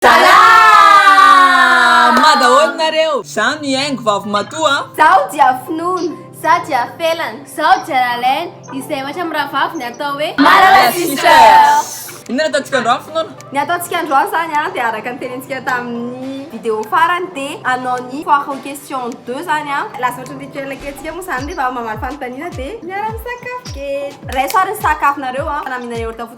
Salama daholo nareo! Za mihaingo vavimatoa a! Zaho dia finoana, za dia felana, zaho dia lalaina, izay ohatra amin'ny rahavavy ny atao hoe. Malala Sisters! Inona no ataontsika androany finoana? Ny ataontsika androany izany a dia araka ny tenentsika tamin'ny vidéo farany dia hanao ny foire aux questions deux izany a, lasa ohatra ny rituel kelintsika moa izany rehefa mamaly fanontaniana dia miara-misakafo kely. Iray soir ny sakafonareo a, na mihinana yaourt fotsiny.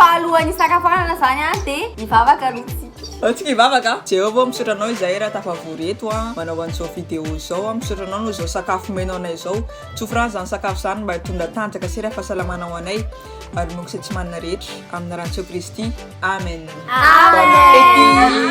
Fa alohan'ny hisakafoanana izany an, dia hivavaka aloha isika. Antsika hivavaka. Jéhovah, misaotra Anao izahay raha tafavory eto an, manao an'izao vidéo izao an. Misaotra Anao noho izao sakafo omenao anay izao. Tsofra izany sakafo izany mba hitondra tanjaka sy ra fahasalamana ho anay ary ny Monko sy Tsimanina rehetra. Amin'ny Anaran'i Jesoa Kristy. Amen. Amen. Bon appétit.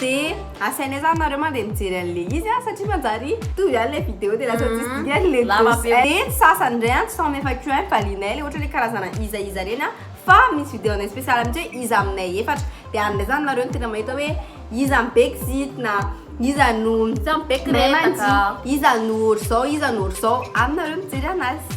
De asainay zany nareo mande mijery anle izy a satria manjary mitovy ihany le video de lasa tsisy dikany le Lava be. de ny sasany ndray an tsy faham efa ko an valinay le ohatra le karazana iza iza reny an fa misy video anay special mitsy hoe iza aminay efatra de any ndray zany nareo no tena mahita hoe iza no be kizity na iza no Iza no be kiretaka. mahay mandihy iza no otrzao iza no otrzao any nareo mijery anazy.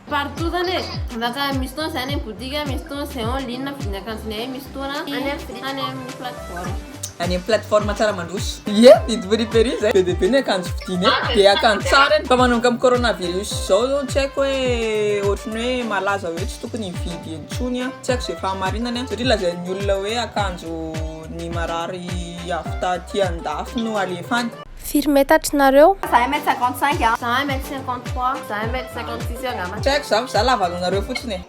Partout zany e, afaka misy fotoana zany eny boutique, misy fotoana zay en ligne na vidin'ny akanjonay eny, misy fotoana any amin'ny plateforme. Any amin'ny plateforme tsara mandroso. Ie, didy friperie zay be dia be ny akanjo vidinay, dia akanjo tsara eny. Fa manomboka amin'ny coronavirus izao zao tsy haiko hoe ohatry ny hoe malaza hoe tsy tokony hividy intsony an, tsy haiko izay fahamarinany an, satria lazain'ny olona hoe akanjo ny marary avy taty andafy no alefa any. Firy metatry nareo? Za 1 mètre 55 a. Za 1 mètre 53. Za 1 mètre 56 eo angamba. Tsy haiko za fa za lava noho nareo fotsiny e.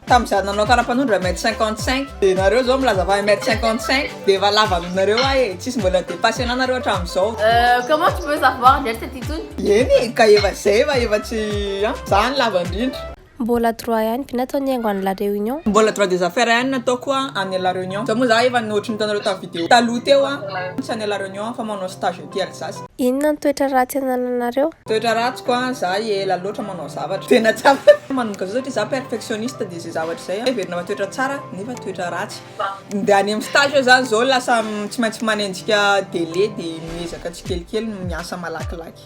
Tam za nanao karapanondro 1 mètre 55 de nareo zao milaza fa 1 mètre 55 de efa lava noho nareo ahy e. Tsisy mbola depasser anah nareo hatramzao. Euh comment tu peux savoir ndray tsy aty intsony. Eny e ka efa zay fa efa tsy an. Za no lava ndrindra. Mbola droit ihany ve natao nihaingo any la reunion? Mbola droit des affaires ihany nataoko any la reunion. Zao moa za efa nohotry ny hitanareo tamin'ny video taloha teo a. Tsy any la reunion aho fa manao stage aty Alsace. Inona ny toetra ratsy anananareo? Toetra ratsiko a, za ela loatra manao zavatra. Tena tsy ampy. Manomboka zao satria za perfectionniste dia izay zavatra izay heverina fa toetra tsara nefa toetra ratsy. Ndeha any amin'ny stage eo zany zao lasa tsy maintsy manenjika délai dia miezaka tsikelikely miasa malakilaky.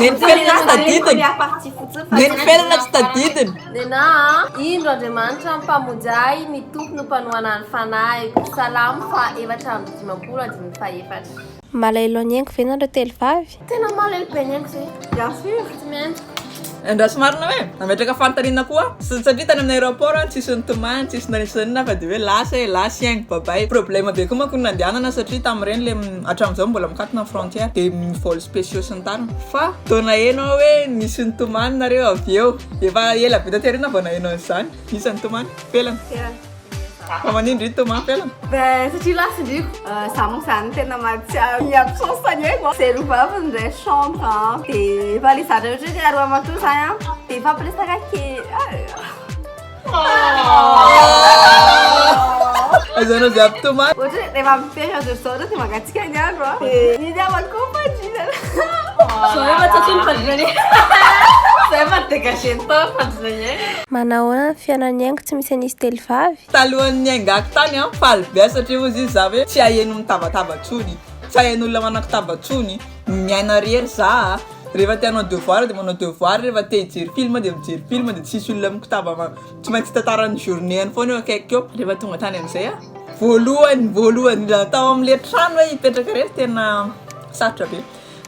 Neny felona tsy tadidiny. Neny felona tsy tadidiny. Nena a, indro Andriamanitra ny Mpamonjy ahy, ny Tompo no mpanohana ny fanahiko. Salamo faha efatra amby dimampolo, andininy faha efatra. Malaelo an'i Hengo ve nareo telo vavy? Tena malahelo be an'i Hengo zay. Bien sûr, tsy mendrika. Andraso marina hoe nametraka fanontaniana koa sy satria tany amin'ny aéroport an tsisy nitomany tsisy nanitsy na inona fa dia hoe lasa e, lasa i Hengo babay, problème be koa manko ny nandehanana satria tamin'ireny le Hatramin'izao mbola mikatona ny frontière dia ny vol spéciaux sy ny tariny fa vao naheno aho hoe nisy nitomany nareo avy eo dia efa ela be taty aoriana vao naheno an'izany iza nitomany? Felana? Fa manino ndry nitomany felana? Ben satria lasa ndry za manko zany tena mahatsiaro ny absence-ny hoe vao zay lobavy ny ray chambre an dia efa le zatra ohatran'ny hoe aroa matoa zany an dia mifampiresaka kely ah. Aizana dia tomany. Ohatra hoe rehefa mifehy azy ireo zao dia mangatsiaka ny andro a. Ny namany koa fandriana. Zao efa tsy atony fandriana ny. Zao efa dégagé ny tao fandriana ny aina. Manahoana ny fiainan'ny aingo tsy misy an'izy telo vavy? Talohan'ny niaingako tany aho faly be satria hozy izy za hoe tsy haheno mitabataba tsony, tsy hahen'olona manakotaba tsony, miaina rery za a. Rehefa te hanao devoir dia manao devoir, rehefa te hijery film dia mijery film dia tsisy olona mikotaba ma- tsy maintsy tantara ny journée-any foana eo akaikiko eo. Rehefa tonga tany amin'izay aho. Voalohany voalohany indrindra tao amin'ilay trano hoe hipetraka irery tena sarotra be.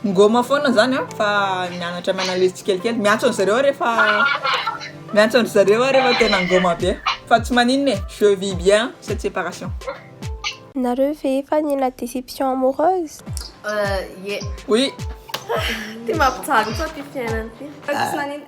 Nigoma foana zany aho fa nianatra mi-analyse tsikelikely. Miantso an-dry zareo aho rehefa miantso an-dry zareo aho rehefa tena nigoma be fa tsy maninona e, je vis bien cette séparation. Nareo ve efa nila déception amoureuse? Euh ie. Oui. Ty mampijaly koa ty fiainana ty.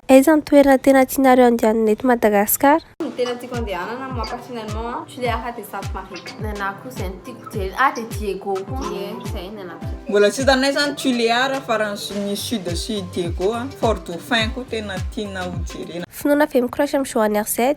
Aiza ny toerana tena tianareo andehanana eto Madagascar? Ny tena tiako andehanana moi personnellement a, tu les haras de Sainte Marie. Ny anahy koa zay no tiako jerena ah de Diego koa ie zay ny anahy. Mbola tsy hitanay zany tu les haras fa raha ny sud sy Diego a, Fort Dauphin koa tena tiana ho jerena. Finoana ve mi crush am Johanne RZ?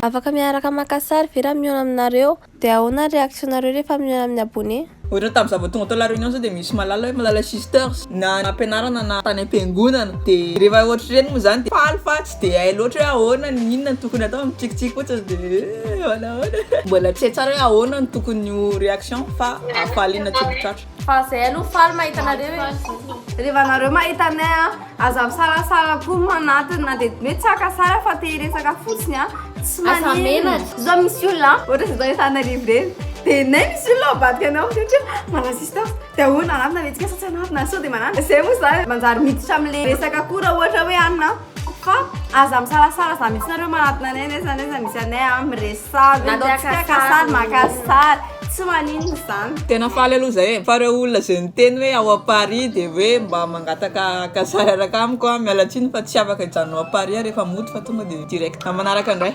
Afaka miaraka maka sary ve raha mihaona aminareo? Dia ahoana ny réaction nareo rehefa mihaona amin'ny abonné? Ohatra tamin'ny za vao tonga tao la réunion zao de misy malala hoe malala sisters na nampianarana na tany am-piangonana de rehefa ohatr'ireny moa zany de faly fa tsy de hay loatra hoe ahoana ny inona no tokony atao mitsikitsiky fotsiny de eh ahoana ahoana mbola tsy hay tsara hoe ahoana no tokony ho réaction fa hafaliana tsy mitratra. Fa zay aloha faly mahita anareo e. Reva nareo mahita anay a, aza misalasala koa no anatiny na dia hoe tsy haka sary aho fa te hiresaka fotsiny a. Tsy maninona. Zao misy olona a, ohatra zao zao efa an'arivo ireny, dia nay misy olona mivadika anao amin'izay ohatra hoe manasista aho, dia ahoana anatona ve tsika sa tsy anatona, sao dia manana. Zay moa zany manjary miditra amin'ilay resaka koa raha ohatra hoe anona. Fa aza misalasala za mihitsy nareo manatona anay nefa nefa misy anay a miresaha ve atao tsika ka sary maka sary tsy maninona izany Tena faly aloha zay e, fa reo olona zay miteny hoe ao à Paris de hoe mba mangataka haka sary araka amiko a, miala tsiny fa tsy afaka hijanona ao Paris a refa mody fa tonga de direct am manaraka ndray.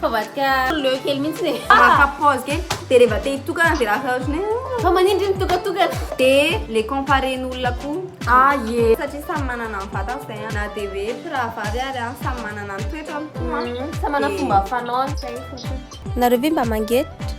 Fabadika leo kely mihitsy e. Maka pause kely dia rehefa te hitokana dia lasa ohatry ny fa manindry ny tokatokana. Dia le comparé ny olona koa. Ah ye. Satria samy manana ny vatany izay an. Na dia hoe mpirahavavy ary an samy manana ny toetrany koa. Samy manana fomba fanaony. Nareo ve mba mangetra?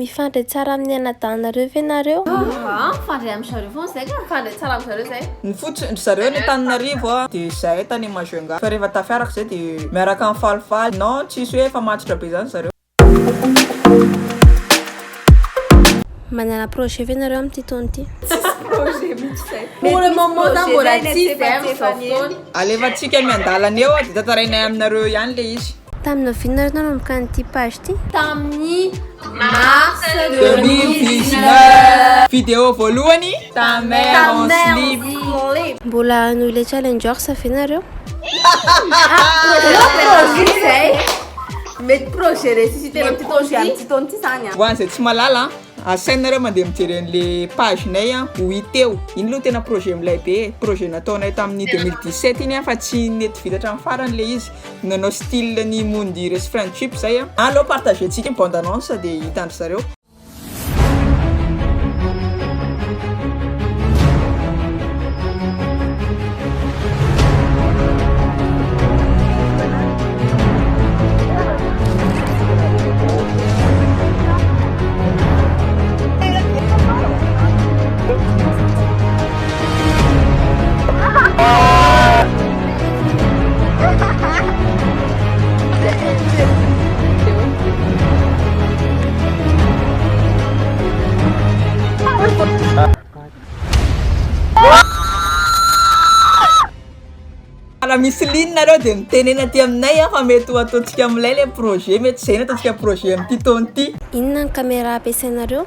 Mifandray tsara amin'ny anadahinareo ve nareo? Aa mifandray am zareo foana zay ka. Mifandray tsara am zareo zay. Ny fotsiny ndry zareo any Antananarivo a de zahay tany Majunga fa rehefa tafiaraka zay de miaraka mifalifaly non tsisy hoe efa matotra be zany zareo. Manana projet ve nareo amin'ity taona ity? Tsisy projet mitsy zay. Pour le moment zany mbola tsy very zao fotoana. Alefantsika miandalana eo de tantarainay aminareo ihany le izy. Tamina vina ary nanomboka an'ity page ity? Tamin'ny mars 2019. Vidéo voalohany, ta mère en slip. Mbola hanohy ilay challengers ve nareo? Mety projet ressuscité amin'ity taona ity. Amin'ity taona ity zany an. Ho an'izay tsy mahalala an, asainareo mandeha mijery an'le page nay an, ho hita eo. Iny aloha tena projet milay be e, projet nataonay tamin'ny 2017 iny an, fa tsy nety vita hatramin'ny farany le izy. Nanao style ny Moundy resy friendship zay a. Aleo partager tsika bande annonce de hitan-dry zareo. Raha misy ligne nareo dia mitenena aty aminay fa mety ho ataontsika amin'ilay ilay projet, mety izay no ataontsika projet amin'ity taona ity. Inona ny caméra ampiasainareo?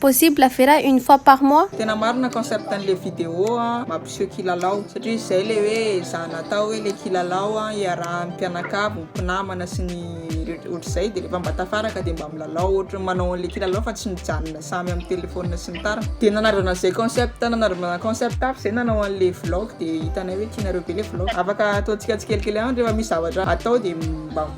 Possible ve raha une fois par mois? Tena marina concept an'le vidéo an, mampiseho kilalao satria izy zay le hoe za natao hoe le kilalao an iarahan'ny mpianakavy, mpinamana sy ny ohatr'izay de rehefa mba tafaraka de mba milalao ohatry manao an'le kilalao fa tsy mijanona samy amin'ny telephone sy ny tariny de nanarivana zay concept nanarivana concept hafa zay nanao an'le vlog de hitanay hoe tianareo be le vlog afaka ataontsika tsikelikely ihany rehefa misy zavatra atao de mba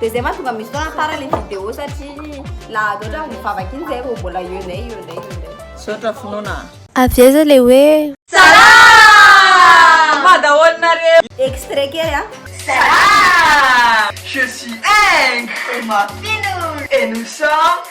De zay mahatonga misy fotoana tara le vidéo satria laha loatra ny vavaka iny zay vao mbola eo indray eo indray eo indray. Misaotra finoana a. Avy aiza le hoe. Salama daholo nareo. Extrait kely a. Salama! Je suis Eng. Et moi Finoul. Et nous sommes.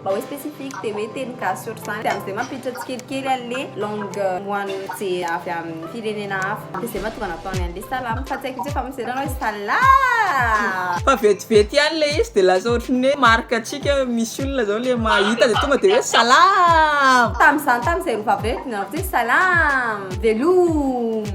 Mba hoe specifique dia hoe teny gasy ohatr'izany dia amin'izay mampiditra tsikelikely an'ilay langue moan'ny ze avy amin'ny firenena hafa dia izay mahatonga nataony an'ilay salama fa tsy haiko mihitsy hoe efa misedra anao hoe salaa! Fa vetivety ihany ilay izy dia lasa ohatry ny hoe marque antsika misy olona zao le mahita dia tonga dia hoe salaam! Tamin'izany tamin'izay rova be dia nanao fotsiny salaam! Velooom!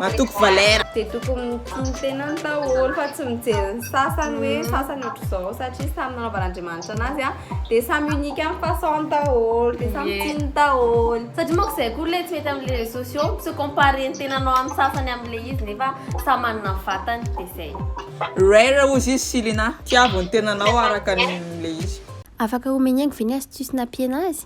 Matoky valera. Dia tokony mitsinjo tena ny daholo fa tsy mijery ny sasany hoe mm. sasany ohatr'izao satria samy nanaovan'Andriamanitra anazy a dia samy unique amin'ny façon daholo dia samy tsiny daholo satria manko izay koa ilay tsy mety amin'ilay réseaux sociaux tsy ho comparé ny tenanao amin'ny sasany amin'ilay izy nefa samy manana ny vatany dia izay Rare ozy izy Silina tiavo ny tenanao araka an'ilay izy Afaka omeny haingo ve ny astuce nampiana azy?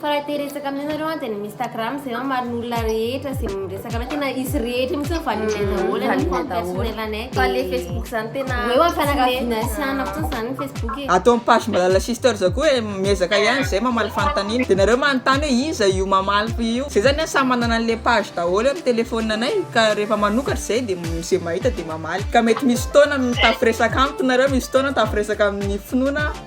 Fa raha te resaka amin'ny anareo an dia ny Instagram izay hamarin'ny olona rehetra izay miresaka aminay tena izy rehetra mihitsy hoe validé daholo ny compte personnel anay dia fa le Facebook izany tena hoe ho an'ny fianakaviana sy anona fotsiny izany ny Facebook e Ato amin'ny page Malala Sisters koa e miezaka ihany izay mamaly fanontaniana dia nareo manontany hoe iza io mamaly io izay zany an samy manana an'le page daholo amin'ny téléphone anay ka rehefa manokatra izay dia izay mahita dia mamaly ka mety misy fotoana mitafiresaka amiko nareo misy fotoana mitafiresaka amin'ny finoana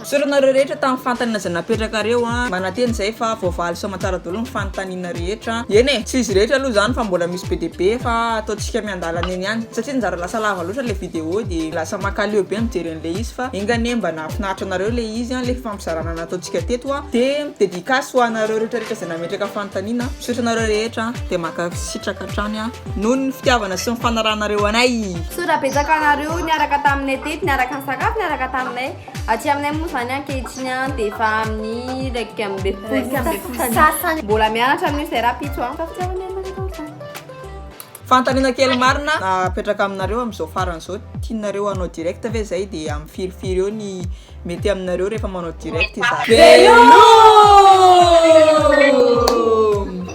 Misaotra anareo rehetra tamin'ny fanontaniana izay napetrakareo a! Manantena izahay fa voavaly sy aman-tsara daholo ny fanontaniana rehetra. Eny e! Tsy izy rehetra aloha izany fa mbola misy be dia be fa ataontsika miandalana eny ihany satria nizara lasa lava loatra ilay vidéo dia lasa mankaleo be mijery an'ilay izy fa enga anie mba nahafinaritra anareo ilay izy an! ilay fifampizarana nataontsika teto a! Dia dedicace ho anareo rehetrarehetra izay nametraka fanontaniana. Misaotra anareo rehetra dia mankasitraka hatrany a! Noho ny fitiavana sy ny fanarahanareo anay. Misaotra betsaka anareo niaraka taminay teto niaraka nisakafo niaraka taminay. Aty aminay moa zany ankehitriny an dia efa amin'ny iraika amby folo sy amby folo sasany mbola mianatra amin'io zay rapitso an Fanontaniana kely marina apetraka aminareo amin'izao farany izao, tianareo hanao direct ve izay dia amin'ny firy firy eo ny mety aminareo rehefa manao direct izahay. Veloma!